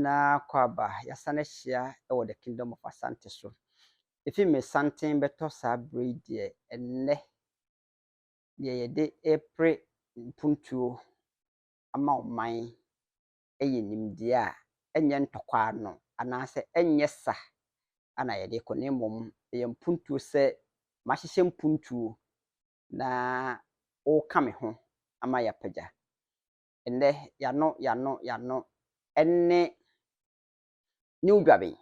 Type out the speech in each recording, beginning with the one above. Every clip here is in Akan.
nyinaa kɔ aba yɛasan ahyia wɔ the kingdom of asante so efi me santen bɛtɔ saa bere yi deɛ ɛnnɛ deɛ yɛde repere mpuntuo ama ɔman yɛ nimdeɛ a ɛnyɛ ntɔkwa ano anaasɛ ɛnyɛ sa na yɛde rekɔ, na mmom ɛyɛ mpuntuo sɛ mahyehyɛ mpuntuo na woka me ho ama yɛapagya. Ɛnnɛ yɛano yɛano yɛano ɛne New Dwaben.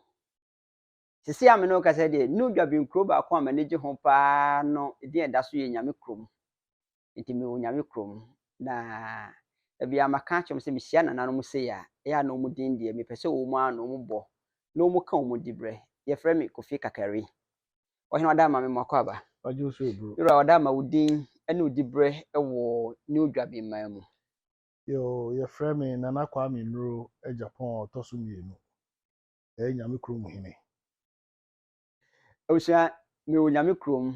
Sisi a me ne wo kasa deɛ, New Dwaben kuro baako a m'ani gye ho paa no edin a ɛda so yɛ Nyame Kurom. nti mewɔ Onyame kurom na bia maka akyerɛ wɔn sɛ mehyia nananom sei a ɛyɛ a na wɔn din deɛ mepɛ sɛ wɔn ara na wɔn bɔ na wɔn ka wɔn dibrɛ. Yɛfrɛ me Kofi Kakari. Ɔhene ɔda ama me mako aba. Ɔgye wo so eburo. Yura ɔda ama wo din ne wo dibrɛ wɔ New Dwabenman mu. Yoo, yɛfrɛ me Nana Kwame Nuro Agyapong a ɔtɔ so mmienu. Ɛyɛ Nyame kurom hene. Abusua, me wɔ Nyame kurom,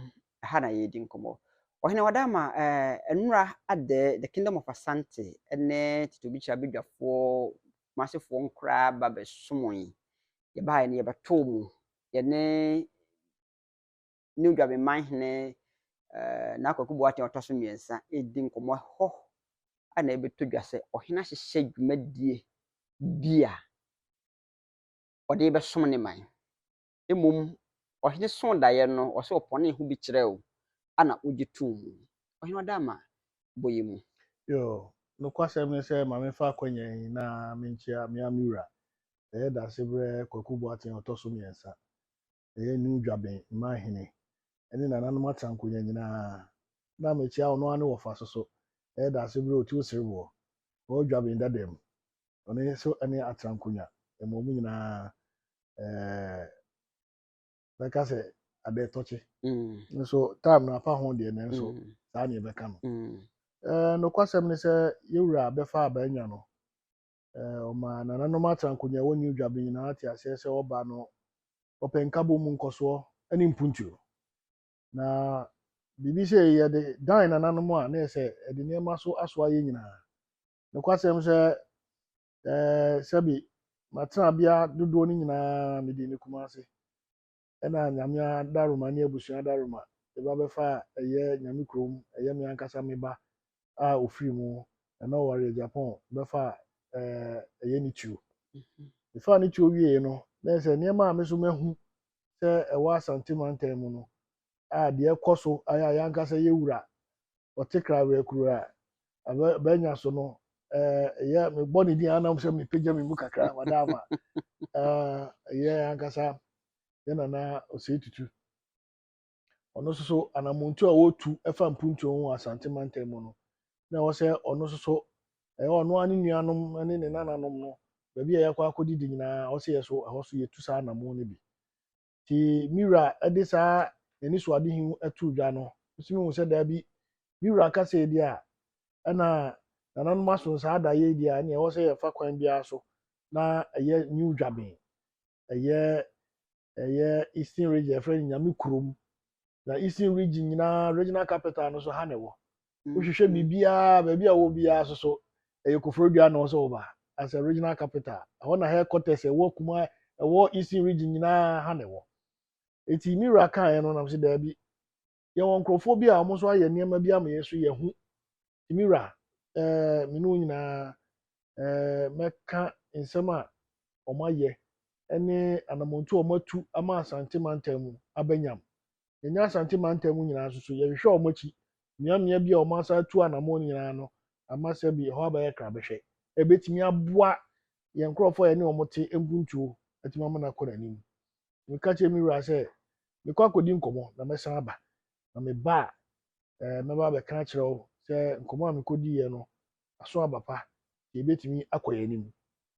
ɛha na yɛredi nkɔmmɔ. Ɔhene Wadama, eh, nnora adɛ, the kingdom of Asante, ɛne Tito Bichira Bedwafoɔ, Kumasefoɔ nkoraa ba bɛsomoe. Yɛbaeɛ no yɛbɛtoo mu, yɛne New Dwabe Manhene eh, na Kwaku Boateng ɔtɔ so mmiɛnsa ɛredi nkɔmmɔ hɔ a na ɛbɛtɔ dwa sɛ ɔhene ahyehyɛ dwumadie bi a ɔde bɛsom ne man. Mbom ɔhen sõ daeɛ no, ɔsɛ ɔpɔnee ho bi kyerɛɛ wo, ana wogye too mu. Ɔhen ɔda ama bɔ yi mu. Yoo, nokwasɛm ne sɛ, ma memfa akwanya yi na menkyea me ara me wura. Mɛyɛ Dasebrɛ Kwaku Boateng a ɔtɔ so mmiɛnsa. Mɛyɛ New Dwaben Mmaa Hene ne Nananom Atrankonwa nyinaa. Na mekyea ɔno ara ne wɔfa so so, mɛyɛ Dasebrɛ Otiu Sereboɔ, Old Dwaben Dadamu, Ɔno nso ne Atrankonwa. Mmom nyinaa ɛɛ bɛka sɛ adeɛ tɔkye. Nso time no afa ho deɛ nanso saa ne yɛbɛka no. Ɛɛ nokwasɛm ne sɛ yɛwura bɛfa abɛnya no. Ɛɛ ɔma nananom Atrankonwa wɔ New Dwabin nyinaa te aseɛ sɛ ɔba no ɔpɛ nkabom mu nkɔsoɔ ne mpuntuo. Na biribi sɛ yɛde dan nananom a na ɛsɛ ɛde nneɛma so asoa yɛn nyinaa. Nokwasɛm sɛ, ɛɛ, sɛbe matena bea dodoɔ no nyinaa mede ne kuma ase. Ɛna Nyame adaroma ne abusua adaroma ɛba bɛfa a ɛyɛ Nyame kurom, ɛyɛ me ankasa me ba a ɔfiri mu, ɛna ɔwareɛ Japan bɛfa a ɛɛ, ɛyɛ ne tuo. Mefaa ne tuo wieeɛ no, na ɛyɛ sɛ nneɛma a me so mahu sɛ ɛwɔ Asante mantam mu no a deɛ ɛkɔ so ayɛ a yɛn ankasa yɛwura ɔte krawea kuro a abɛ bɛnya so no ɛɛ yɛ mebɔ ne din anam sɛ mepagya me mu kakra wada ama ɛɛ yɛ ankasa yɛ nana ɔsɛe tutu ɔno nso so anamontu a wɔtu ɛfa mpuntuo ho wɔ asante mantam mu no na ɛwɔ sɛ ɔno nso so ɛyɛ ɔno ara ne nuanom ne ne nananom no baabi a yɛakɔ akɔdidi nyinaa ɔsɛ yɛ so ɛhɔ so yɛtu saa anamon no bi Nti me wura de saa n'anisoadehu yi too dwa no, metumi hu sɛ daabi, me wura ka sei deɛ a, ɛna nananom aso saa adayɛ yi deɛ a, ɛneɛ ɛwɔ sɛ yɛfa kwan biara so na ɛyɛ New Dwaben, ɛyɛ ɛyɛ Eastern Region, yɛfrɛ no Nyame kurom, na eastern region nyinaa regional capital no so ha na ɛwɔ wohwehwɛ biribiara baabi a wɔ biara so so ɛyɛ koforodua na ɔsɛ ɔba as a regional capital ɛhɔ na headquarters ɛwɔ kuma ɛwɔ eastern region nyinaa ha na ɛwɔ eti mi wura kaeɛ no nam sɛ daabi yɛwɔ nkurɔfoɔ bi a wɔn nso ayɛ nneɛma bi ama yɛn nso yɛho Me wura, eh, me ne wo nyinaa, eh, mɛka nsɛm a wɔayɛ ne anamɔntu a wɔatu ama Asante mantam mu aba nyam. Yɛnyɛ Asante mantam mu nyinaa nso so, yɛhwehwɛ wɔn akyi. Mmeammea bi a wɔasan atu anamɔn nyinaa no ama sɛ bi ɛhɔ abɛyɛ krabɛhwɛ. Ɛbɛtumi aboa yɛn nkurɔfoɔ a yɛne wɔn te mpuntuo atumi ama no akɔ n'anim. Meka kyerɛ me wura sɛ, mekɔ akɔdi nkɔmmɔ na mɛsan aba. na meba a, eh, mɛba abɛka akyerɛ wo sɛ nkɔmmɔ a mekɔdiiɛ no aso aba pa, sɛ yɛbɛtumi akɔ yɛn anim.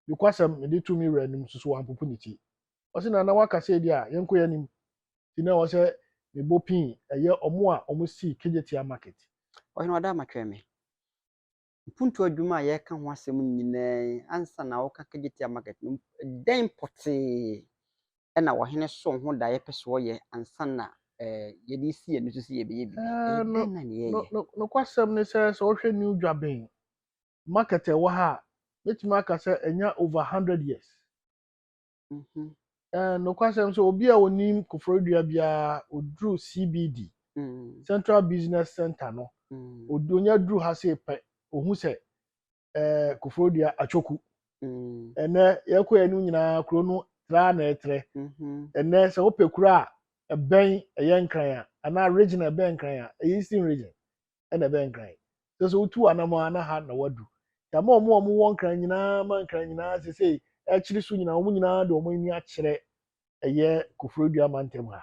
Nokwasɛm, mede too me wura anim nso so wampopo ne ti. Ɔse na na waka sɛ ebia yɛnkɔ yɛn anim, nti na ɛwɔ sɛ mebɔ pin ɛyɛ ɔmo a ɔmo sii Kejetia Market. Ɔhene, wada matwɛn me. mpuntuo adwuma a yɛreka ho asɛm nyinaa yi, ansa na woka Kejetia market no, dɛn pɔtee na ɔhene soo ho da a yɛpɛ sɛ ɔyɛ ansa na eh, yɛde resi yɛn ani so sɛ yɛbɛyɛ biribi? Eh, Eh, no, dɛn na ne no, yɛyɛ? no, nokwasɛm ne sɛ, sɛ wohwɛ New Dwaben market a ɛwɔ ha a, mɛtumi aka sɛ ɛnya over 100 years. Mhm. Eh, nokwasɛm sɛ obi a onim koforidua biara oduru cbd Mm, central business center no mm, ɔdu- onya duru ha sei pɛ ohu sɛ eh, koforidua atwoku mm, ɛnɛ yɛkɔɛ no nyinaa kuro no traa na ɛtrɛ mhm, ɛnɛ sɛ wopɛ kuro a ɛbɛn ɛyɛ nkran a anaa region a ɛbɛn nkran a ɛyɛ eastern region ɛna ɛbɛn nkran sɛ sɛ wotu anamɔ a na ha na wadu yɛama wɔn a wɔwɔ nkran nyinaa ma nkran nyinaa sɛ sɛ akyiri so nyinaa wɔn nyinaa de wɔn ani akyerɛ ɛyɛ koforidua mantam ha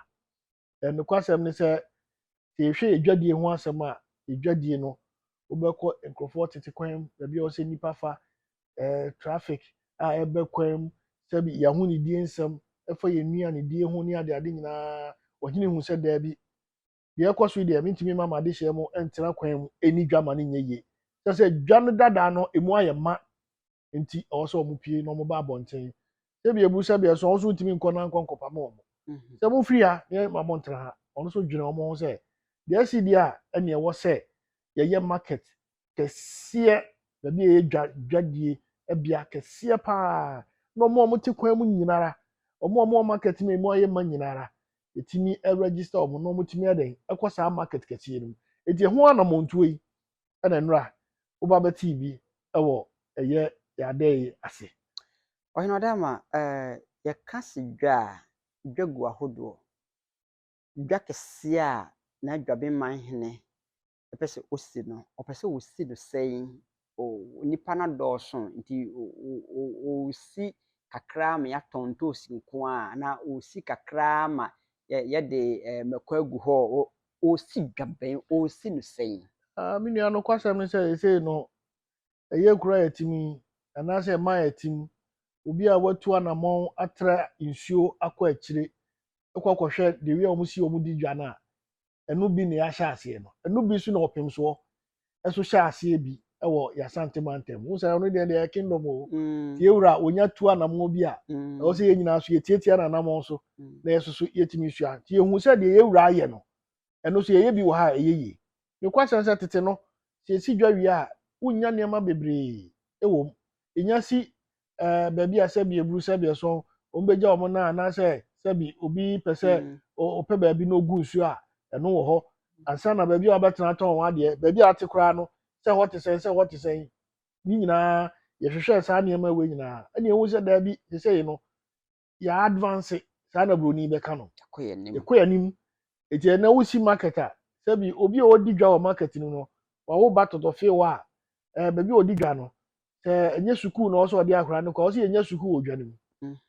nokwasɛm ne sɛ sɛ yɛhwɛ yɛ dwadie ho asɛm a yɛ dwadie no wobɛkɔ nkurɔfoɔ tete kwan mu baabi a wɔsɛ nnipa fa eh, traffic a ɛbɛ kwan mu sɛ yɛaho ne die nsɛm ɛfa yɛ nnuane die ho ne adeade nyinaa ɔhene hu sɛ daabi deɛ ɛkɔ so yi deɛ mentumi ma m'adehyeɛ mu ntena kwan mu ɛni dwa ma no nyɛ yie kyɛ sɛ dwa no dadaa no ɛmu ayɛ ma nti ɛwɔ sɛ wɔn pie na wɔn ba abɔnten sɛbi ebu sɛbi ɛso wɔn so ntumi nkɔ na nkɔ nkɔpa ma wɔn mhm. sɛ mo firi ha ne ma mo ntena ha wɔn so dwene wɔn ho sɛ deɛ ɛsi deɛ a ɛna ɛwɔ sɛ yɛyɛ market kɛseɛ, baabi a ɛyɛ dwa dwadie bea kɛseɛ pa ara, na wɔn a wɔte kwan mu nyina ara, wɔn a wɔwɔ market no a ɛmu ayɛ ma nyina ara, yɛtumi register wɔn na wɔtumi ayɛ dɛn ɛkɔ saa market kɛseɛ no mu. Enti ɛho anamɔntuo yi ɛna nnora woba bɛtee bi ɛwɔ ɛyɛ yɛadɛ yi ase. Ɔhene Ɔdaama, eh, yɛka se dwa a, dwa gu ahodoɔ. Dwa kɛseɛ a n'adwabenman hene ɔpɛ sɛ ɔsi no, ɔpɛ sɛ ɔsi no sɛn? Nnipa no adɔɔso nti ɔresi kakra ma yɛatɔn ntoosi nko ara anaa ɔresi kakra ma yɛde mmako agu hɔ? Ɔresi dwa bɛn? Ɔresi no sɛn? Me nua, nokwasɛm ne sɛ seesei no, ɛyɛ kura yɛ tim yi anaasɛ ɛma yɛ tim. Obi a watu anammɔn atra nsuo akɔ akyire kɔ akɔhwɛ the way a wɔsi wɔn di dwa no a, ɛno bi na yɛahyɛ aseɛ no ɛno bi nso na ɔpemsoɔ ɛso hyɛ aseɛ bi ɛwɔ yasante mantam ho sɛ ɔno deɛ deɛ kingdom o mm. tie wura onya tu anamɔ bi a mm. ɛwɔ sɛ yɛn nyinaa so yɛtiatia no anamɔ so mm. na yɛso so yɛtumi sua nti yɛhu sɛ deɛ yɛwura ayɛ no ɛno so yɛyɛ bi wɔ ha a ɛyɛ yie mekwasɛm sɛ tete no sɛ ɛsi dwa wie a wonya nneɛma bebree ɛwɔ mu ɛnya si ɛɛ baabi a sɛbi eburu sɛbi ɛsɔn wɔn bɛgya wɔn nan anaasɛ sɛbi obi pɛ sɛ mm. ɔpɛ baabi na ogu nsuo a ɛno wɔ hɔ ansa na baabi a wɔbɛtena atɔn wɔn adeɛ baabi a ate koraa no sɛ hɔ te sɛn sɛ hɔ te sɛn ne nyinaa yɛhwehwɛ saa nneɛma wei nyinaa ɛna ehu sɛ daabi sɛsɛyi no yɛ advance saa na buroni bɛka no ɛkɔ yɛ anim ɛkɔ yɛ anim eti ɛna wosi market a sɛbi obi a ɔdi dwa wɔ market no no wawo ba tɔtɔ fie hɔ a ɛɛ baabi a ɔdi dwa no sɛ ɛnyɛ sukuu na ɔsɛ ɔde akora no kɔ ɔsɛ yɛnyɛ sukuu wɔ dwa no mu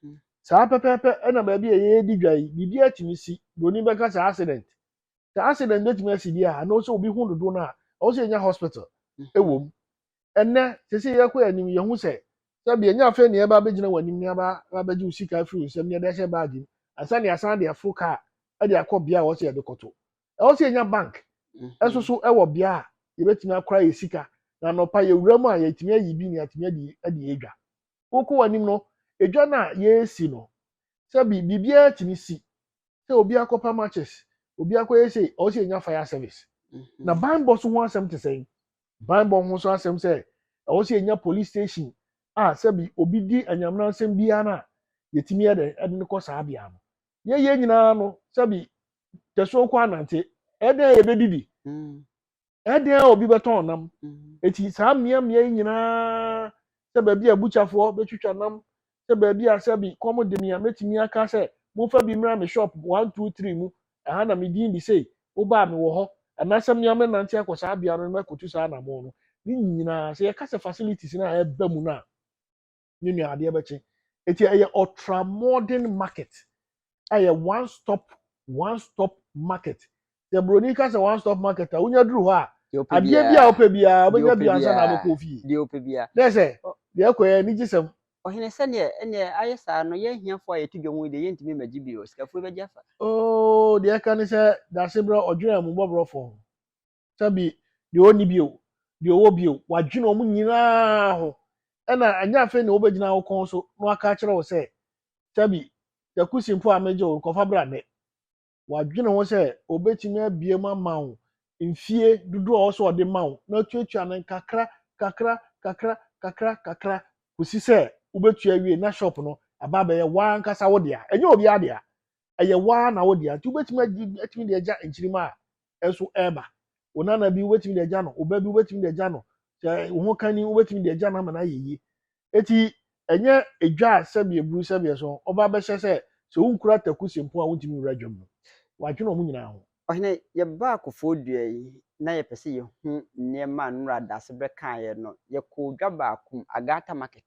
mhm. saa pɛpɛɛpɛ ɛna baabi a yɛdi dwa yi biribi atumi si buroni bɛka sɛ accident sɛ accident betumi asi bi a ɛna ɔsɛ obi ho dodo no a ɔsɛ yɛnya hospital ɛwɔ mhm. mu ɛnɛ sese yɛkɔ yɛn anim yɛhu sɛ sɛbi ɛnyɛ afei na yɛba abɛgyina wɔn anim ne aba abɛgye wo sika afiri wo nsam ne yɛde ahyɛ baage mu ansa ne asan de aforo kaa de akɔ bea a wɔsɛ yɛde kɔto ɛwɔ sɛ yɛnya bank ɛso so ɛwɔ bea a yɛbɛtumi akora yɛ sika na anɔpa yɛwura mu a yɛtumi ayi bi ne yɛatumi adi adi yɛ dwa wokɔ wɔn anim no edwa no a yɛresi no sɛbi biribiara tumi si sɛ obi akɔpa matches obi akɔyɛ sei ɔwɔ sɛ yɛnya fire service na banbɔ so ho asɛm te sɛn Banbɔ ho nso asɛm sɛ ɛwɔ sɛ yɛnya police station a sɛbi obi di anyamena nsɛm biara no a yɛtumi yɛ dɛn ɛde no kɔ saa bea no yɛyɛ nyinaa no sɛbi tɛsoɔ kɔ anante ɛdɛn a yɛbɛdidi ɛdɛn a obi bɛtɔn nam ɛti saa mmeammea yi nyinaa sɛ baabi a bukyafoɔ bɛtwitwa nam sɛ baabi a sɛ bi kɔm de me a mɛtumi aka sɛ momfa bi mmra me shop one two three mu ɛha na me din de sei woba a mewɔ hɔ anaasɛ me a mɛnante akɔ saa bea no na makɔtu saa anammɔn no ne nyinaa sɛ yɛka sɛ facilities no a ɛba mu no a ne nua adeɛ bɛkye ɛti ɛyɛ ultra modern market ɛyɛ one stop one stop market sɛ buroni ka sɛ one stop market a wonya duru hɔ a adeɛ bi a wopɛ biara wobɛnya bi ansa na abɛkɔ fie deɛ wopɛ biara na sɛ deɛ ɛkɔ yɛ anigye sɛm ɔhene sɛdeɛ ɛneɛ ayɛ saa no yɛ ahiafoɔ a yɛto dwom deɛ yɛntumi mmagye bio sikafoɔ bɛgye afa oo deɛ ɛka ne sɛ daseberɛ ɔdwerɛ mu bɔborɔfoɔ sɛbi deɛ ɔnni bi o deɛ ɔwɔ bi o wadwene wɔn nyinaa ho ɛna anyɛ afei na wɔbɛgyina wo kɔn so na waka akyerɛ wo sɛ sɛbi takusi mpo a megye wo kɔfa bra nnɛ wadwene ho sɛ ɔbɛtumi abie mu ama wo mfie dodoɔ a ɔsɛ ɔde ma wo na atuatua no kakra kakra kakra kakra kakra kɔsi sɛ wobɛtua wie na shop no aba abɛyɛ waa nkasa wo dea ɛnyɛ obiara dea ɛyɛ waa na wo dea nti wobɛtumi atumi de agya nkyirima a nso reba wo nana bi wobɛtumi de agya no wo ba bi wobɛtumi de agya no sɛ wo ho kani wobɛtumi de agya no ama no ayɛ yie eti ɛnyɛ edwa a sɛbi eburu sɛbi ɛso ɔba bɛhyɛ sɛ sɛ wonkura taku si mpo a wontumi nwura dwam no wadwene wɔn nyinaa ho Ɔhene, yɛbaa kofoɔ dua yi na yɛpɛ sɛ yɛhu nneɛma a Nora Daasebrɛ kaeɛ no. Yɛkɔɔ dwa baako mu, Agata Market.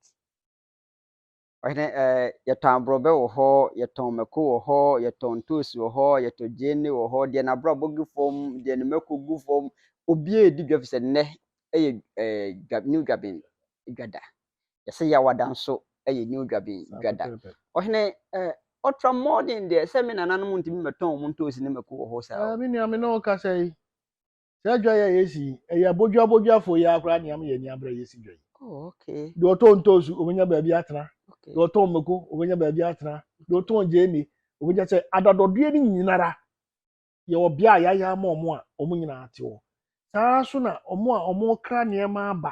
Ɔhene ɛɛ, yɛtɔn aborɔbɛ wɔ hɔ, yɛtɔn mako wɔ hɔ, yɛtɔn ntoosi wɔ hɔ, yɛtɔn gyeene wɔ hɔ, deɛ n'abrabɔ gu fam, deɛ ne mako gu fam, obiara redi dwa fi sɛ nnɛ yɛ ɛɛ new dwabin dwa da. Yɛsɛ yɛawada nso yɛ new dwabin dwa da. Ɔhene ɛɛ, ɔtra mmɔden deɛ sɛ me nananom ntumi mmɛtɔn wɔn ntoosi ne mako wɔ hɔ saa. Ɛɛ, me nua me ne wo kasa yi, sɛ adwa yɛ yɛsi yi ɛyɛ abodwa abodwafoɔ yi ara koraa nea yɛ ani abere a yɛsi dwa yi oh, deɛ ɔtɔn ntoosu ɔbɛnya baabi atena deɛ ɔtɔn mmako ɔbɛnya baabi atena deɛ ɔtɔn gyeene ɔbɛnya sɛ adadɔdeɛ no nyinara yɛwɔ bea a yɛayɛ ama wɔn a wɔn nyinaa te hɔ saa nso na wɔn a wɔkra nneɛma aba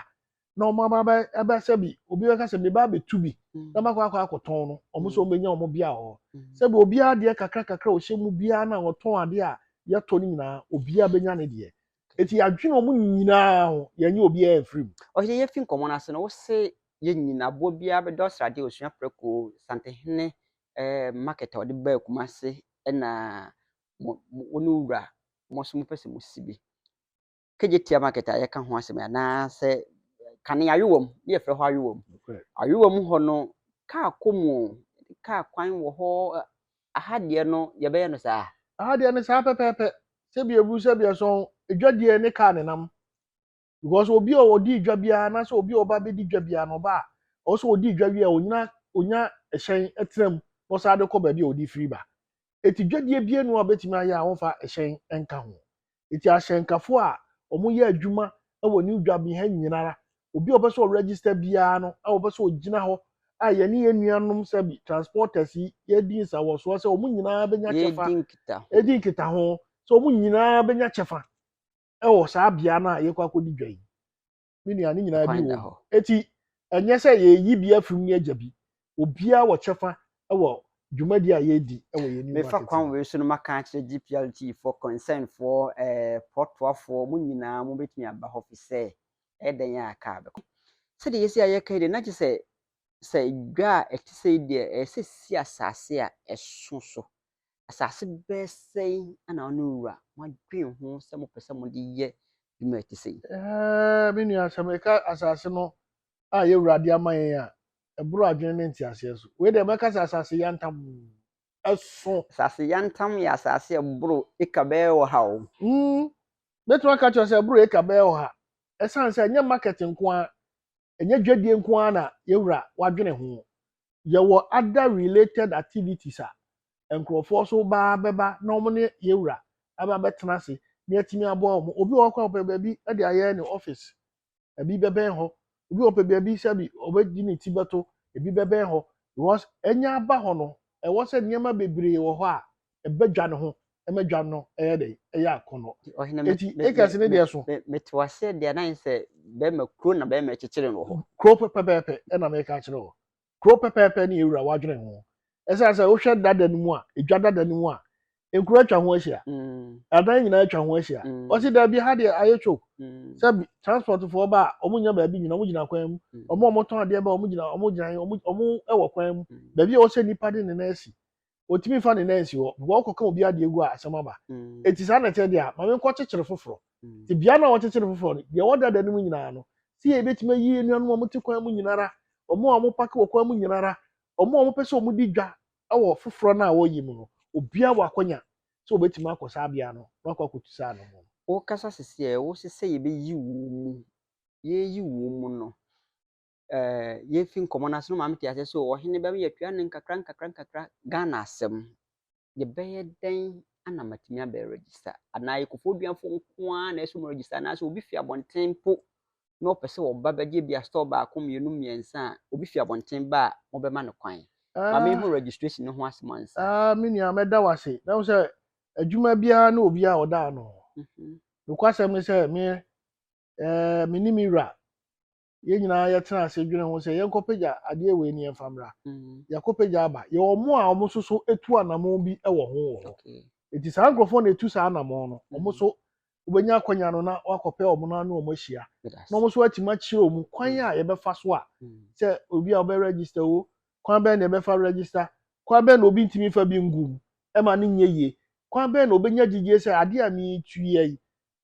na wɔn aba bɛ ɛbɛ sɛ bi obi bɛka sɛ meba abɛtu bi mm. na makɔ akɔ akɔtɔn no wɔn nso mm. wɔbɛnya wɔn bia wɔ hɔ mm. sɛ bi obiara deɛ kakra kakra ɔhyɛ mu biara na ɔtɔn adeɛ a yɛtɔ no nyinaa obiara bɛnya ne deɛ eti yɛadwene wɔn nyinaa ho yɛnyɛ obiara mfiri mu. ɔhyɛ yɛfi nkɔmɔ no ase no wose yɛ nyina aboɔ biara bɛdɔ ɔsrade osua prɛko santehene eh, market a ɔde baa kuma ase ɛna wɔn wura wɔn nso mopɛ sɛ mosi bi Kejetia market a yɛka ho asɛm anaasɛ kane ayowa mu ne yɛfrɛ hɔ ayowa mu ayowa mu hɔ no kaa kɔ mu kaa kwan wɔ hɔ aha deɛ no yɛbɛyɛ no saa aha deɛ no saa pɛpɛɛpɛ sɛbi ebu sɛbi ɛsɔn edwa deɛ ne kaa ne nam because obi a ɔdi edwa biara anaasɛ obi a ɔba bɛdi dwa biara na ɔba a ɔwɔ sɛ ɔdi edwa wie a ɔnyina ɔnya ɛhyɛn ɛtena mu na ɔsan de kɔ baabi a ɔde firi ba eti dwadie bie no a ɔbɛtumi ayɛ a wɔmfa ɛhyɛn nka ho Ntsi ahyɛnkafo a wɔyɛ edwuma wɔ New Dwaben ha nyinara, obi a ɔpɛ sɛ ɔregister biara no a wɔpɛ sɛ ogyina hɔ a yɛne yɛn nuanom sɛbi transporters yi yɛdi nsawɔsoɔ sɛ wɔn nyinaa bɛnya kyɛfa yɛdi nkitaho yɛdi nkitaho sɛ wɔn nyinaa bɛnya kyɛfa ɛwɔ saa bea no a yɛkɔ akɔdi dwa yi. me nua ne nyinaa bi wɔ hɔ eti ɛnyɛ sɛ yɛyi bi afiri mu ne agya bi obiara wɔ kyɛfa wɔ dwumadi a yɛredi wɔ yɛn new market mefa kwan wei so no maka akyerɛ gplt foɔ concern foɔ ɛɛ eh, pɔtoafoɔ mo nyinaa mo bɛtumi aba hɔ fi sɛ ɛdɛn a aka bɛkɔ sɛdeɛ yɛsi ayɛ ka yi deɛ na gye sɛ sɛ dwa a ɛte sɛ deɛ ɛsɛ si asase a ɛso so Asase bɛyɛ sɛn na ɔne wura moadwen ho sɛ mopɛ sɛ mode yɛ dwuma a ɛte sɛ yi? Ɛɛ, me nua, sɛ meka asase no a yɛn wura de ama yɛn a, ɛboro adwene ne nteaseɛ so. Wei deɛ mɛka sɛ asase yantam so. Asase yantam yɛ asase a ɛboro eka bɛyɛ ɔha o. Mm, mɛtumi aka akyerɛ sɛ ɛboro eka bɛyɛ ɔha. Ɛsiane sɛ ɛnyɛ market nko ara, ɛnyɛ dwadie nko ara na yɛn wura wadwene ho. yɛwɔ other related activities a nkurɔfoɔ nso baa bɛba na wɔn ne yɛwura aba bɛtena ase na yɛatumi aboa wɔn obi wɔ hɔ koraa ɔpɛ baabi de ayɛ ne office ebi bɛbɛn hɔ obi wɔ pɛ baabi sɛbi ɔbɛdi ne ti bɛto ebi bɛbɛn hɔ because ɛnya aba hɔ no ɛwɔ sɛ nneɛma bebree wɔ hɔ a ɛba dwa no ho ma dwa no yɛ dɛ ɛyɛ akɔnnɔ nti acres ne deɛ so mete waseɛ deɛ na sɛ bɛrima kuro na bɛrima kyekyere no wɔ hɔ kuro pɛpɛpɛpɛ ɛna meka kyerɛ hɔ kuro pɛpɛpɛ ne yɛwura wadwene ho ɛsiane sɛ wohwɛ dada no mu a ɛdwa dada no mu a nkuro atwa ho ahyia mm. adan nyinaa atwa ho ahyia mm. ɔsi daabi ha deɛ ayɛ choke mm. sɛ transportfoɔ ba a wɔn nyɛ baabi nyina wɔn gyina kwan mu wɔn a wɔtɔn adeɛ ba wɔn gyina wɔn gyina wɔn ɛwɔ kwan mu baabi a wɔsɛ nipa de ne nan asi ɔtumi fa ne nan si hɔ bikɔ ɔkɔka obi adeɛ gu a asɛm aba ɛti mm. saa na ɛteɛ deɛ a ma menkɔ kyekyere foforɔ mm. nti bia na wɔkyekyere foforɔ no deɛ wɔdada no mu nyinaa no sɛ yɛ bɛtumi ayi anuanom a wɔte kwan mu nyinara ɔmo a wɔpake wɔ kwan mu nyinara ɔmo a wɔpɛ sɛ ɔmo di dwa wɔ foforɔ no a wɔyi mu no obia wɔ akɔnya sɛ wɔbɛtumi akɔ saa bea no na wakɔ akɔtu saa no mu wokasa sisi a ɛwo sɛ sɛ yɛbɛyi wɔn mu yɛyi wɔn mu no eh, yɛfi nkɔmmɔ no ase no ma mete aseɛ so ɔhene bɛma yɛatua no nkakra nkakra nkakra ghana asɛm yɛbɛyɛ dɛn ana matumi abɛ register anaa yɛkɔfoɔ duafoɔ nko ara na ɛsɛ mu register anaasɛ obi fi abɔnten mpo na ɔpɛ sɛ ɔba bɛgye bi a store baako mmienu mmiɛnsa a obi fi abɔnten ba a mobɛma no kwan ma mehu ah. registration no ho asɛm ansa ah, me nua mɛda wo ase na wo sɛ adwuma biara ne obi a ɔda ano mhm. nokwasɛm ne sɛ me eh, mene me wura yɛn nyinaa yɛtena ase dwene ho sɛ yɛnkɔpagya adeɛ wei ne yɛmfa mmra mm. yɛakɔpagya aba yɛ ɔmo a ɔmo nso so etu anamɔn bi wɔ ho wɔ hɔ eti saa nkurɔfoɔ na etu saa anamɔn no ɔmo mm. so wobɛnya akɔnya no na wakɔpɛ ɔmo no ano ɔmo ahyia na ɔmo so atumi akyerɛ ɔmo kwan mm. a yɛbɛfa so a sɛ obi a ɔbɛ register o kwan bɛn na yɛbɛfa register kwan bɛn na obi ntumi fa bi ngu mu ɛma ne nyɛ yie kwan bɛn na obɛnya gyigye sɛ adeɛ a metu yɛ yi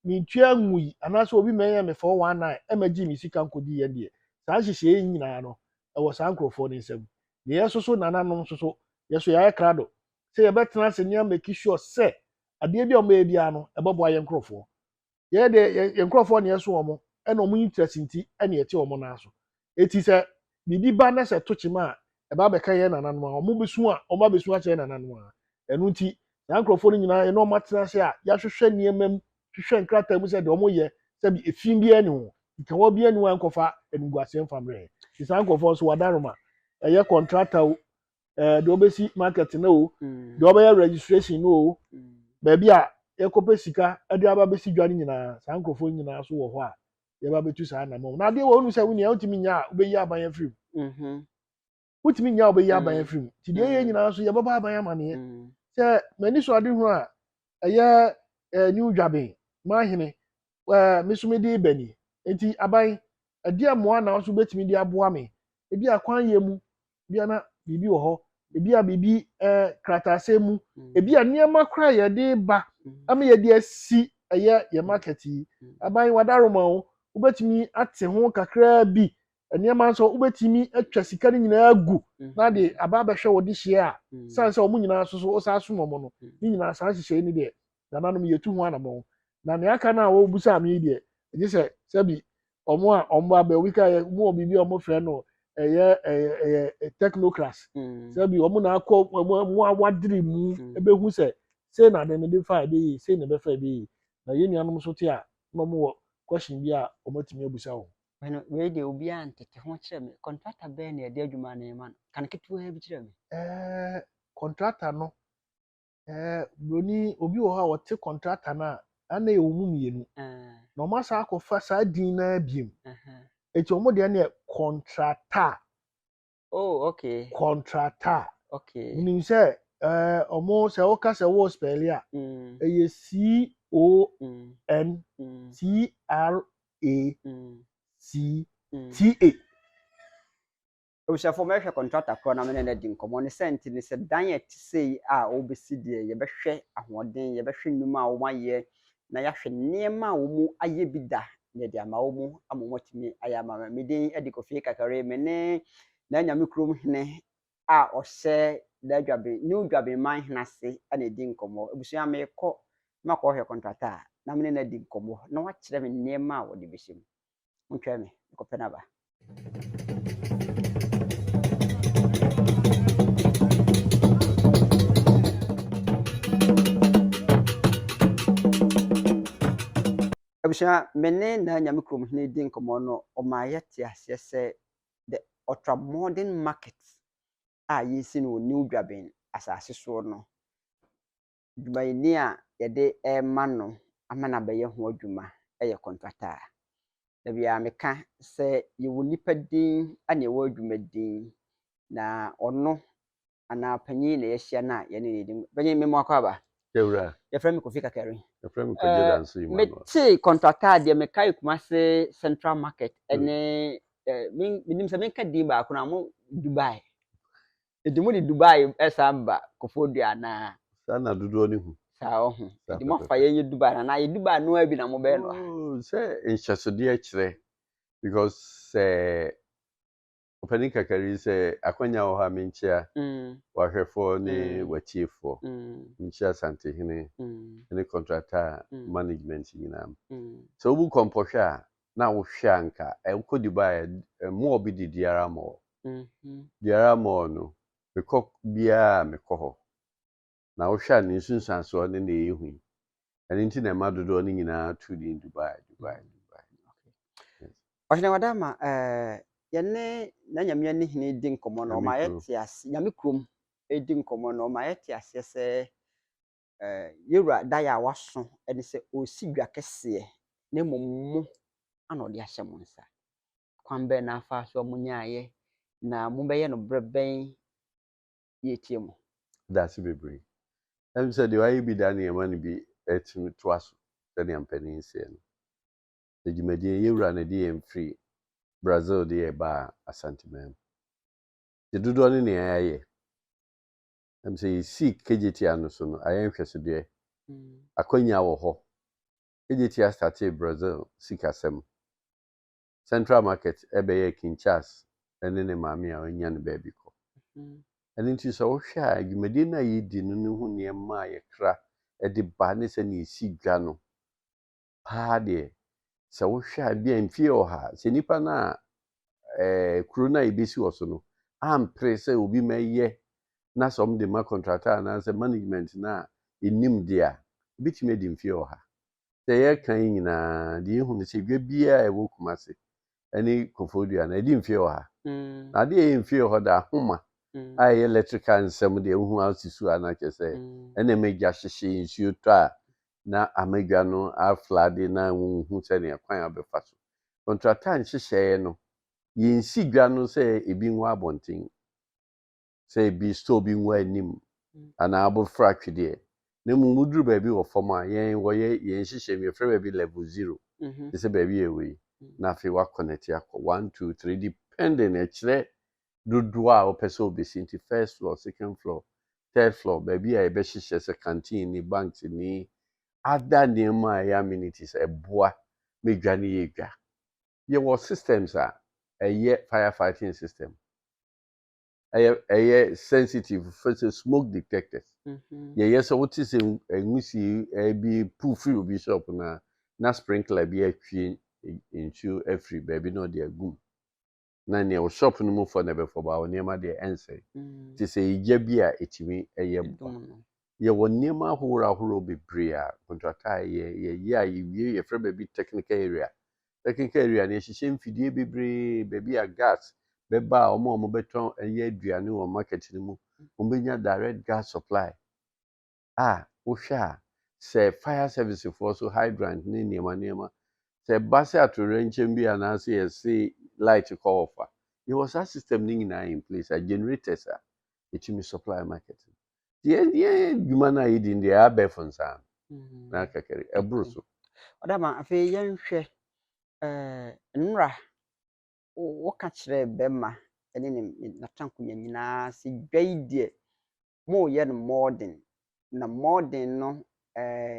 mentua ngui anaasɛ obi ma ɛyɛ me 419 ɛma gye me sika nkɔdi yɛn deɛ saa nhyehyɛeɛ yi nyinaa no ɛwɔ saa nkurɔfoɔ no nsam deɛ yɛn soso nananom nso so yɛn so yɛayɛ krado sɛ yɛbɛtena ase ne amaki sure sɛ adeɛ bi a wɔbɛyɛ biara no ɛbɛboa yɛn nkurɔfoɔ yɛyɛ deɛ yɛn nkurɔfoɔ ne ɛso wɔn ɛna wɔn interest nti ɛne ɛte wɔn nan so eti sɛ biribi ba na sɛ ɛto kyema a ɛba bɛka yɛn nananom a wɔn bɛsu a wɔn abɛsu akyerɛ yɛn nananom a ɛno nti saa nkurɔfoɔ no nyinaa yɛ na wɔn atena ase a yɛahwehwɛ nneɛma mu hwehwɛ nkrataa mu sɛ deɛ wɔn yɛ sɛ bi efi biara ni ho nkɛwɔ biara ni ho a nkɔfa animguaseɛ nfa mmerɛ ti saa nkurɔfoɔ nso wɔada roma ɛyɛ kɔntrata o ɛɛ deɛ wɔbɛsi market no o deɛ wɔbɛyɛ registration no o baabi a yɛkɔpɛ sika de aba bɛsi dwa no nyinaa saa nkurɔfoɔ nyinaa so wɔ hɔ a yɛba bɛtu saa anamɔ na adeɛ wɔ wonu sɛ wonea wotumi nya a wobɛyi aban afiri mu mm-hmm. wotumi nya a wobɛyi aban mm. afiri mu nti deɛ ɛyɛ mm. nyinaa nso yɛbɛbɔ aban amaneɛ mm. sɛ m'ani so ade ho a ɛyɛ eh, new dwaben mahene eh, me so mede bani nti aban ɛdeɛ mmoa na nso wobɛtumi de aboa me ebi akwan yɛ mu bia na biribi wɔ hɔ ebi a biribi ɛɛ eh, krataasɛm mu mm. ebi a nneɛma koraa yɛde ba mm. ama yɛde asi ɛyɛ yɛ market yi mm. aban wadaroma o wobɛtumi ate ho kakraa bi nneɛma nso wobɛtumi atwa sika no nyinaa gu na de aba abɛhwɛ wɔde hyia a san sɛ wɔn nyinaa nso so wosan som wɔn no ne nyinaa saa nhyehyɛe no deɛ nananom yɛtu ho anamɔn na nea aka no a wɔbusaa me yi deɛ gye sɛ sɛbi ɔmo a ɔmo abɛ obi ka yɛ ɔmo wɔ biribi a ɔmo frɛ no ɛyɛ ɛyɛ ɛyɛ technocras mm. sɛbi ɔmo na akɔ ɔmo ɔmo awadiri mu mm. ebehu sɛ sei na ade no de fa ebe yie sei na ebe fa ebe yie na yɛn nuanom nso te a na ɔmo wɔ question bi a ɔmo atumi abusa wɔn. mɛno wei deɛ obiara ntete ho kyerɛ me kɔntrata bɛyɛ na yɛde adwuma no ma no kan ketewa bi kyerɛ me. ɛɛ kɔntrata no Eh, buroni, obi wɔ hɔ a ɔte kɔntrata no a, ana yɛwɔ mu mmienu. Na wɔn asan akɔfa saa din no ara biem. Eti wɔn deɛ no yɛ kɔntrata. Oh, okay. Kɔntrata. Okay. Wonim sɛ eh, wɔn sɛ woka sɛ wo spɛli a, mm. ɛyɛ C O N mm. T R A mm. C T A. Abusuafo, mɛhwɛ kɔntrakta korɔ na me ne no adi nkɔmmɔ. Ne sɛnti ne sɛ, dan a ɛte sei a wɔrebɛsi deɛ, yɛbɛhwɛ ahoɔden, yɛbɛhwɛ nnwuma a wɔayɛ, na yɛahwɛ nneɛma a wɔayɛ bi da, na yɛde ama wɔn ama wɔatumi ayɛ ama me. Me din de Kofi Kakari. Me ne N'Anyame Kurom Hene a ɔhyɛ Daa Dwaben, New Dwaben Man Hene ase na ɛredi nkɔmmɔ. Abusua, merekɔ na makɔhwɛ kɔntrakta a, na me ne no adi nkɔmmɔ, na wakyerɛ me nneɛma a wɔde bɛhyɛ mu. Montwɛn me, mekɔpɛ no aba. abusua me ne na nyame kurom hene di nkɔmmɔ no ɔma yɛte aseɛ sɛ the ultra modern market a yɛsi no wɔ new dwaben asase soɔ no dwumayɛni a yɛde rema no ama no abɛyɛ ho adwuma yɛ kɔntrata a, da biara meka sɛ yɛwɔ nnipa din na yɛwɔ adwuma din, na ɔno anaa panyin na yɛahyia no a yɛne no di. Panyin, me mmoa kɔ aba. Yɛwura. Yɛfrɛ me Kofi Kakari. Yɛfrɛ me Kwadwo eh, Danso Emmanuel. Metee kɔntrata a deɛ mekae Kumase Central Market ɛne hmm. eh, menim sɛ menka din baako no a mo Dubai. Nti mo de Dubai ɛsan ba Kofoɔ Dua anaa? Saa na dodoɔ no hu. Saa ɔho. Saa Nti mo afa pɛpɛpɛ. yɛn yɛ Dubai anaa yɛ Dubai noa bi na mo bɛyɛ no wɔ ha? Oh, sɛ nhyɛsodeɛ kyerɛ because sɛ ɔpanin kakari sɛ akwanya wɔ hɔ a menkyia Mm, wahwɛfoɔ ne Mm. watiefoɔ mm, menkyia asantehene mm, ne contractor mm, management nyinaa mm, sɛ wobu kɔmpɔhwɛ a na wo hwɛ a nka eh wo kɔ Dubai a eh mall bi de Diara mall Diara mall no me kɔ biara a me kɔ hɔ na wo hwɛ a ne nsunsuansoɔ ne na ɛyɛ hu yi ɛno nti na ɛma dodoɔ no nyinaa to din Dubai Dubai Dubai. Ɔhene Wadama eh yɛne Nanyame ani hene di nkɔmmɔ no ɔma yɛte ase Nyame kurom di nkɔmmɔ no ɔma yɛte aseɛ sɛ yɛwura daeɛ a waso ne sɛ ɔresi dwa kɛseɛ na mmom mo na ɔde ahyɛ mo nsa. Kwan bɛn na afaa so a monyaeɛ na mobɛyɛ no berɛ bɛn? Yɛretie mo. Da ase bebree. Ɛm sɛ deɛ wayɛ bi da no yɛma no bi tumi toa so sɛdeɛ mpanin seɛ no. Sɛ dwumadie no yɛwura na ɛde yɛn firi Brazil de yɛn baa Asanteman mu. Deɛ dodoɔ ne nea yɛayɛ Ɛnam sɛ yɛsii Kejetia no so no, ayɛ nhwɛsodeɛ. Akwanya wɔ hɔ. Kejetia startee Brazil sikasɛm. Central Market bɛyɛɛ Kinchas ne ne maame a ɔnya no baabi kɔ. Ɛno nti sɛ wohwɛ a, dwumadie no a yɛdi no no ho nneɛma a yɛkra de ba ne sɛdeɛ yɛsi dwa no, paa deɛ, sɛ wohwɛ a ebia mfeɛ ɔha, sɛ nnipa no a ɛɛ kuro no a yɛbɛsi wɔ so no ampere sɛ obi mɛyɛ na sɛ wɔde ma contractor anaasɛ management no a ɛnim deɛ a, ɛbɛtumi adi mfeɛ ɔha. Sɛ yɛka yi nyinaa deɛ yɛhu no sɛ dwa biara a ɛwɔ Kumase ne Kofoɔ Dua no ɛdi mfeɛ ɔha. Na adeɛ a ɛyɛ mfeɛ ɔha da ahoma a ɛyɛ electrical nsɛm deɛ wohu ase su a na kyerɛ sɛ ɛna ɛma gya hyehye nsuo tɔ a na amadwa no aflade na wonhu sɛnea kwan a wɔbɛfa so. Kɔntrata nhyehyɛe no, yensi dwa no sɛ ebi ngu abɔnten, sɛ ebi store bi ngu anim anaa abofra atwedeɛ, na mmom woduru baabi wɔ fam a, yɛn wɔyɛ yɛn nhyehyɛe mu, yɛfrɛ baabi level zero, te sɛ baabi a ɛwɔ yi, na afei wɔakɔnɛte akɔ one, two, three, depending, ɛkyerɛ dodoɔ a wopɛ sɛ wobɛsi nti first floor, second floor, third floor baabi a yɛbɛhyehyɛ sɛ canteen ni, banks ni, other nneɛma a ɛyɛ amenities ɛboa ma dwa no yɛ dwa. Yɛwɔ systems a ɛyɛ fire fighting system ɛyɛ ɛyɛ sensitive fɛ sɛ smoke detectors yɛyɛ sɛ wote sɛ nwusie ɛbi pu firi obi shop no a na sprinkler bi atwie nsuo afiri baabi na ɔde agum na nea wo shop no mu fɔ na ɛbɛfɔ baa wo nneɛma deɛ ɛnsɛe te sɛ egya bi a ɛtumi ɛyɛ boa yɛwɔ nneɛma ahorow ahorow bebree a kɔntratɔ a yɛ yɛyɛ a yɛwie yɛfrɛ baabi technical area technical area no yɛhyehyɛ mfidie bebree baabi a gas bɛba a wɔn a wɔbɛtɔn ɛyɛ aduane wɔ market no mu wɔbɛnya direct gas supply a wohwɛ a sɛ fire service foɔ so hydrant ne nneɛma nneɛma sɛ ɛba sɛ atoyerɛnkyɛm bi anaasɛ yɛse light kɔ off a yɛwɔ saa system no nyinaa in place a generators a ɛtumi supply market no nti yɛ yɛ adwuma no a yɛdi no deɛ ɛyɛ abɛɛfo nsa ano Mhm. na kakari ɛboro so ɔdama afei yɛnhwɛ eh, nnora wo- woka kyerɛ bɛma ɛne ne ne- n'atankonya nyinaa sɛ dwa yi deɛ moreyɛ no mmɔɔden, na mmɔɔden no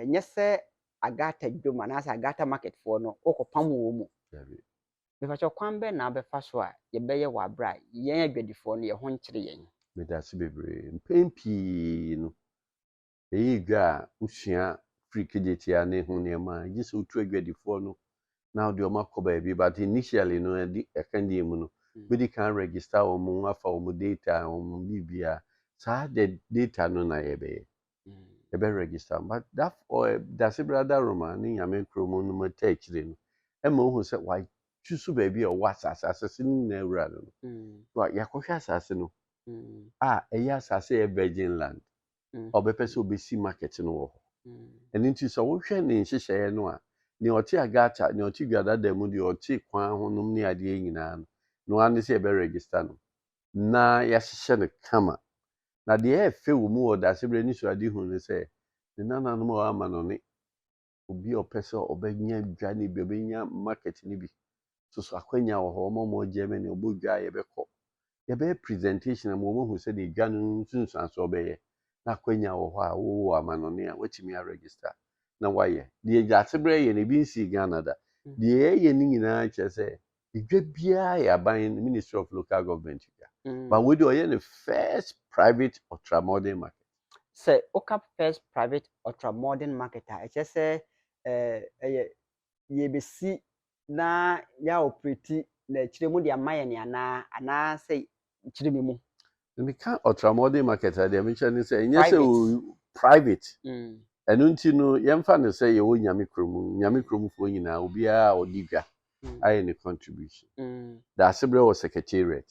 nyɛ sɛ Agata dwom anaasɛ Agata market foɔ no wokɔpam wɔn mu. Mepakyɛ kwan bɛn na wobɛfa so a yɛbɛyɛ wɔ aberɛ a yɛn adwadifoɔ no yɛn ho nkyere yɛn? Medase bebree. Mpɛn pii no ɛyɛ dwa a wosua firi kedetia ne ho nneɛma a ɛgye sɛ wotu adwadifoɔ no na ɔde wɔn akɔ baabi but initially no ɛde ɛka deɛ mu no bɛdi kan register wɔn afa wɔn data wɔn biribiara saa de data no na yɛbɛyɛ yɛbɛ register but that ɔɛ dase brada roma ne nyame kuro mu no mu ta akyire no ɛma ohu sɛ watwi so baabi a ɔwɔ asase asase no nyinaa wura no no wa yɛakɔhwɛ asase no a ɛyɛ asase yɛ virgin land a ɔbɛpɛ sɛ obesi market no wɔ hɔ. Ɛno nti sɛ wohwɛ ne nhyehyɛeɛ no a, nea ɔte Agata, nea ɔte Dwadada mu, deɛ ɔte kwan ho nom ne adeɛ nyinaa no, no ara ne sɛ yɛbɛ register no na yɛahyehyɛ no kama. Na deɛ ɛyɛ fɛ wɔ mu wɔ Daasebrɛ Anisoadehunu ne sɛ, ne nananom a wɔama no ne. obi a ɔpɛ sɛ ɔbɛnya dwa no bi, ɔbɛnya market no bi. Soso akwanya wɔ hɔ, wɔn a wɔwɔ Germany, wɔbɔ dwa a yɛbɛkɔ. Yɛbɛyɛ presentation ama wɔn ahu sɛdeɛ dwa no nsunsuansoɔ bɛyɛ. Na akwanya wɔ hɔ a wowɔ amanɔne a, woatumi a register na woayɛ. Deɛ Gyaaseberɛ yɛ no, ebi nsii Ghana da. Deɛ yɛyɛ no nyinaa kyerɛ sɛ edwa biara yɛ aban no ministry of local government dwa mm. but wei de ɔyɛ ne first private ultra modern market. sɛ woka first private ultra modern market a ɛkyerɛ sɛ eh, ɛyɛ yɛbɛsi na yɛaoperati na akyire mu de ama yɛn anaa anaasɛ nkyere me mu. Meka Ultramodern Market a deɛ mekyerɛ ne sɛ ɛnyɛ sɛ private. Mm. Ɛno nti no yɛmfa no sɛ yɛwɔ Nyame kurom, Nyame kuromfoɔ nyinaa obiara a ɔdi dwa mm. ayɛ ne contribution. Mm. Daase berɛ wɔ secretariat.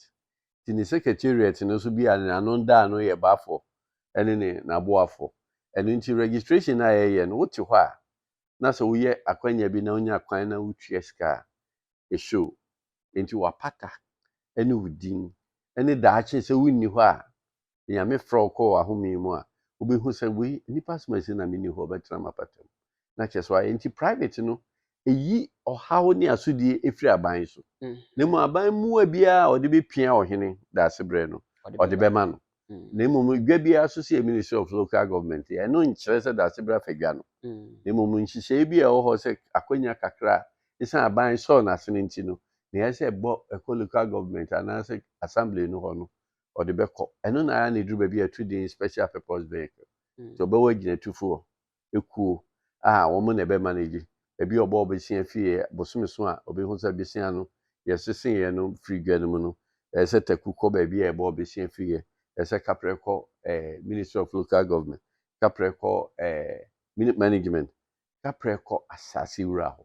Nti ne secretariat no nso bi a ne ano da ano yɛ bafoɔ ɛne ne n'aboafoɔ. Ɛno nti registration a yɛyɛ no wote hɔ a na sɛ woyɛ akwanya bi na wonya kwan na wotua sika a ɛhyɛ o. enti wapata ne wo din ne daakye sɛ wonni hɔ a Nyame frɛ wo kɔ w'ahome mu a wobɛhu sɛ wei nnipa som asi na menni hɔ bɛtena m'apata mu na kyɛ so ayɛ nti private no ɛyi ɔhaw ne asodie ɛfiri aban so na mu aban mua biara a ɔde bɛpia ɔhene daasebrɛ no ɔde bɛma no na mmom dwa biara nso sɛ yɛ Ministry of Local Government yɛ, ɛno nkyerɛ sɛ dase bra fa dwa no. Na mmom nhyehyɛe bi a ɛwɔ hɔ sɛ akwanya kakra a esiane aban sɔɔ no ase no nti no, nea ɛyɛ sɛ ɛbɔ ɛkɔ Local Government anaasɛ Assembly no hɔ no, ɔde bɛkɔ. Ɛno na ayɛ a na ɛduru baabi a ɛto din Special Purpose Vehicle, nti ɔbɛwɔ agyinatufoɔ. ekuo a wɔn na ɛbɛma no agye. Ebi a ɔbɔ bosea fie a, bosome so a obehu sɛ bosea no yɛseseeɛ no firi dwa no mu no, ɛsɛ sɛ taku kɔ baabi a yɛbɔ bosea firi yɛ. Ɛsɛ sɛ kaprɛ kɔ eh, Ministry of Local Government, kaprɛ kɔ eh, Management, kaprɛ kɔ asase wura hɔ.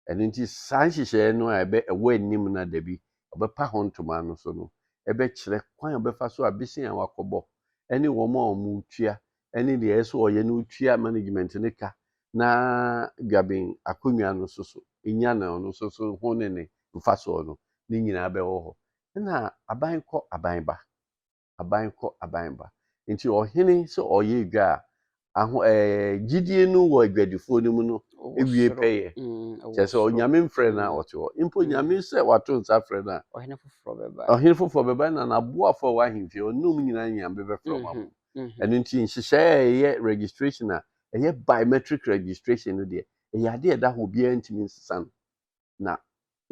Ɛno nti, saa nhyehyɛeɛ no a ɛbɛ ɛwɔ anim no a dabi ɔbɛpa ho ntoma no so no bɛkyerɛ kwan a ɔbɛfa so a besen a wakɔbɔ ne wɔn a wɔretua ne deɛ ɛyɛ sɛ ɔyɛ no retua management no ka na dwaben akonnwa no nso so nya na ɔno nso so ho ne ne mfasoɔ no ne nyinaa bɛwɔ hɔ. Ɛna aban kɔ aban ba. aban kɔ aban ba. Nti ɔhene sɛ ɔyɛ adwa a, aho ɛɛ gyidie no wɔ adwadifoɔ no mu no ewie pɛyɛ. Mm, Kyerɛ sɛ onyame mfrɛ no a ɔte hɔ. Mpo mm. nyame sɛ wato nsa frɛ no a. Ɔhene foforɔ bɛba. Ɔhene foforɔ bɛba na n'aboafoɔ a wɔ ahemfie ɔne wɔn nyinaa nyame bɛfrɛ wɔn abom. Mm-hmm, mm-hmm. Ɛno nti nhyehyɛe a ɛyɛ registration a ɛyɛ biometric registration no deɛ ɛyɛ adeɛ ɛda hɔ obiara ntumi nsesa no. na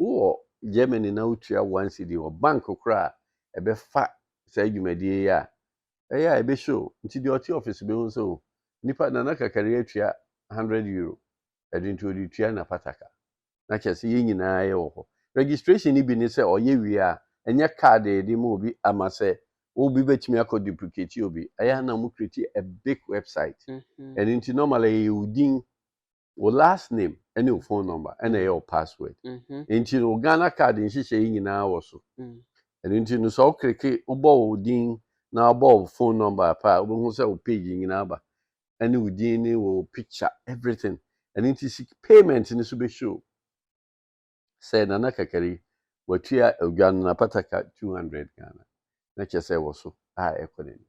wowɔ Germany na wotua one cedi wɔ bank koro a ɛbɛfa saa dwumadie yi a, ɛyɛ a ɛbɛhyɛ o. Nti deɛ ɔte office bɛhu sɛ o, nipa Nana Kakari atua hundred euro, ɛde nti ɔde tua n'apata ka. Na kyerɛ sɛ yɛn nyinaa yɛwɔ hɔ. Registration no bi ne sɛ ɔyɛ wie a, ɛnyɛ card a yɛde ma obi ama sɛ obi bɛtumi akɔ duplicate obi. Ɛyɛ a na wɔcreate a big website. Ɛno nti normally ɛyɛ wo din wo last name ɛne wo phone number ɛna ɛyɛ wo password nti no Ghana card nhyehyɛ yi nyinaa wɔ so ɛno nti no sɛ wokreke wobɔ wo din na wobɔ wo phone number apa a wobɛhu sɛ wo page nyinaa ba ɛne wo din ne wo picture everything ɛno nti payment no so bɛhyɛ o sɛ Nana Kakari watua odwa no napata ka two hundred Ghana na kyerɛ sɛ wɔ so a ɛkɔ n'anim.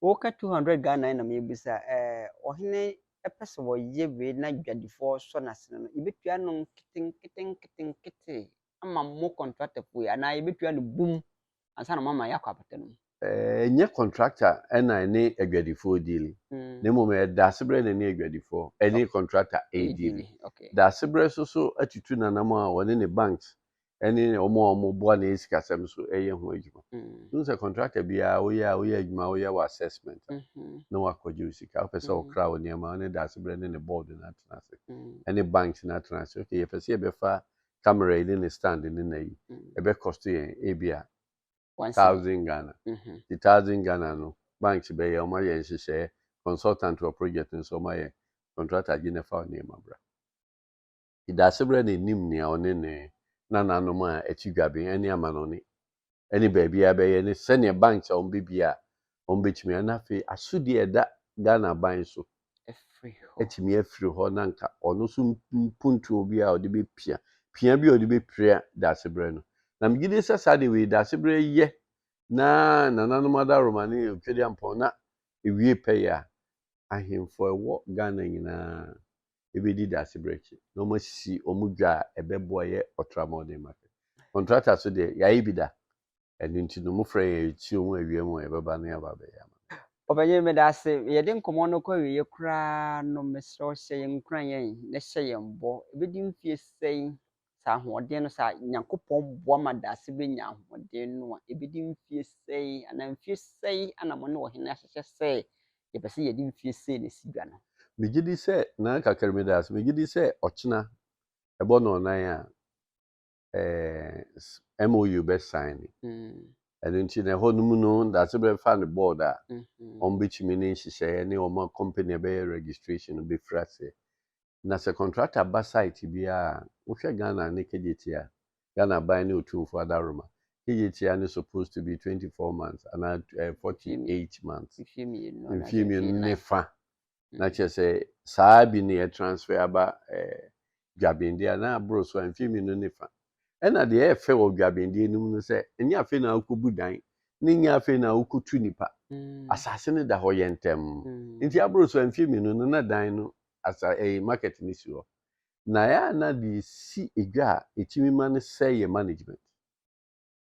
Wo ka two hundred Ghana yi na me bisa eh ɔhene pɛ sɛ ɔyɛ wei na dwadifoɔ sɔ n'asene no yɛbɛtua no nketenkete nketenkete ama mo kɔntratɛfoɔ yi anaa yɛbɛtua no bum ansa na wɔama yɛakɔ abata no mu. Ɛnyɛ kɔntrakta na ɛne adwadifoɔ diili, mm. na mmom ɛyɛ daasebrɛ na ɛne adwadifoɔ ɛne kɔntrakta ɛrediili. Daasebrɛ so so atutu nanam a wɔne ne banks ɛne wɔn a wɔboa ne sikasɛm so ɛyɛ ho adwuma. Wohu mm. sɛ kɔntrakta biara woyɛ a woyɛ adwuma woyɛ wɔ assessment mm-hmm. na wakɔgye wo sika wopɛ sɛ wokra mm. wo nneɛma ne daasebrɛ ne ne board no atena ase ɛne banks no atena ase okay yɛpɛ sɛ yɛbɛfa camera yi ne ne stand ne na yi ɛbɛ cost yɛn ebia thousand Ghana ti thousand Ghana no banks bɛ yɛ ɔmo ayɛ nhyehyɛɛ consultant wɔ project nso ɔmo ayɛ contractor gye ne fa wɔ nneɛma bra ti daase brɛ na enim nea ɔne ne nananom a ɛti dwabe ɛne amanɔne ɛne baabiara bɛyɛ ne sɛdeɛ banks a wɔbɛbie a wɔbɛtumi a na afei asodi a ɛda Ghana aban so atumi afiri hɔ na nka ɔno nso mpuntuo bi a ɔde bɛpia pia bi a ɔde bɛpira daasebrɛ no na megye di sɛ saa deɛ wei daasebrɛ yɛ na nananom adaroma ne otwadi ampɔn na ewie pɛyɛ a ahemfo ɛwɔ Ghana nyinaa ebedi dase bere akyi na wɔn asisi wɔn dwa a ɛbɛboa yɛ ɔtra mɔden ma kɛ kɔntrata so deɛ yɛayɛ bi da ɛno nti no mo frɛ yɛn yɛtie wɔn awie mu a yɛbɛba na yɛaba abɛyɛ ama Ɔpanyin meda ase yɛde nkɔmmɔ no kɔ awieɛ koraa no mesrɛ wo hyɛ yɛn nkuran yɛn na hyɛ yɛn bɔ ɛbɛdi mfie sɛn saa ahoɔden no saa Nyankopɔn boa ma daase bɛnya ahoɔden no a, ɛbɛdi mfeɛ sɛi anaa mfeɛ sɛi na mo ne ɔhene ahyehyɛ sɛ yɛpɛ sɛ yɛde mfeɛ sɛi na ɛsi dwa no. Megye di sɛ Nana Kakari meda ase, megye di sɛ ɔkyena ɛbɔ nnɔnnan a eh, MOU bɛ sign. Ɛno nti na ɛhɔ no mu no daase bɛfa ne board a wɔn bɛtumi ne nhyehyɛeɛ ne wɔn company a ɛbɛyɛ registration no bɛfiri aseɛ. Na sɛ kɔntrakta ba site biara a, wohwɛ Ghana ne KJT a, Ghana Aban ne Otumfoɔ adaworoma, KJT a ne supposed to be twenty four months anaa eh, forty eight months, Mfie mmienu anaa mfie mmienu mfie ne nan. fa. Na kyerɛ sɛ saa bi ne yɛtransfer aba eh, Dwabendeɛ a, na aboro so a, mfie mmienu ne fa. Ɛna deɛ ɛyɛ fɛ wɔ Dwabendeɛ no mu ne sɛ, ɛnyɛ afei na wokɔbu dan, ne nyɛ afei na wokɔtu nipa. Asase no da hɔ yɛ ntɛm. Nti aboro so a, mfie mmienu no na dan no asa ɛyi market no si hɔ na ɛyɛ a na deɛ ɛsi edwa a ɛtumi ma no sɛe yɛ management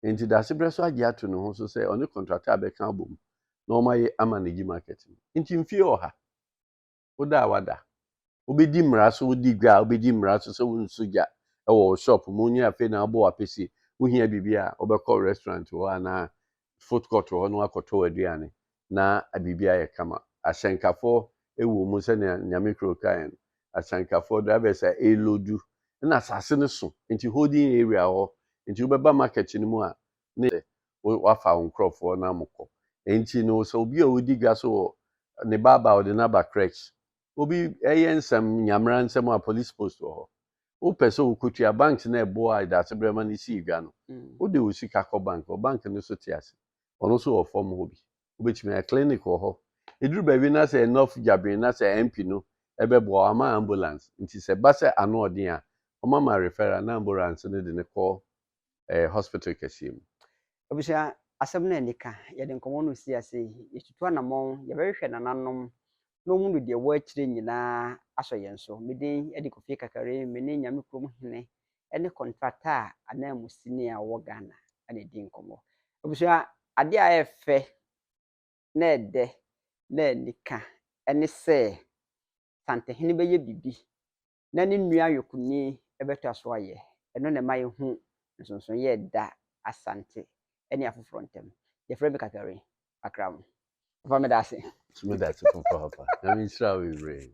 nti dasebrɛ so agye ato ne ho so sɛ ɔne contractor a bɛka abom na wɔn ayɛ ama ne gyi market no nti mfie ɔha woda a wada wobɛdi mmara so wodi dwa a wobɛdi mmara so sɛ wonsu gya ɛwɔ wo shop mu nyɛ afei na abɔ wapɛsie wohia biribi a wobɛkɔ restaurant hɔ anaa food court wɔ hɔ no akɔtɔ aduane na biribi ayɛ kama. Ahyɛnkafoɔ wɔ mu sɛnea Nyame Kuro kaeɛ no, ahyɛnkafoɔ, drivers a ɛreloadu na asase no so nti holding area hɔ nti wobɛba market no mu a ne sɛ woafa wo nkorɔfoɔ na mokɔ. Nti no sɛ obi a ɔdi dwa so wɔ ne ba aba ɔde no aba crèche obi ɛyɛ nsɛm nyamera nsɛm a police post wɔ hɔ wopɛ sɛ wokotua banks na ɛboa ɛdaase berɛ ma no sii dwa no mm. wode wo sika kɔ bank wɔ bank no so te ase ɔno so wɔ fam hɔ bi wobɛtumi ayɛ clinic wɔ hɔ ɛduru baabi na sɛ enough dwabene na sɛ mp no ɛbɛboa ama ambulance nti sɛ ba sɛ ano ɔden a ɔmama referral na ambulance no de ne kɔ ɛɛ hospital kɛseɛ mu. Abusua, asɛm no a anika, yɛde nkɔmmɔ no resi ase yi, yɛtutu anamɔn, yɛbɛhwehwɛ nananom na wɔn de deɛ ɛwɔ akyire nyinaa asɔ yɛn so. Me din de Kofie Kakare, me ne Nyame Kurom Hene ne kɔntrata a ananmusini a ɔwɔ Ghana na ɛdi nkɔmmɔ. Abusua, adeɛ a ɛyɛ fɛ na ɛdɛ na anika ne sɛ Santehene bɛyɛ biribi na ne nua ayɔkoni bɛtoa so ayɛ. Ɛno na ɛma yehu nsonsonoe a ɛda Asante ne afoforo ntam. Wɔfrɛ me Kakari, Akram. Papa meda ase. So meda ase papaapa. Nyame nhyira wo bebree.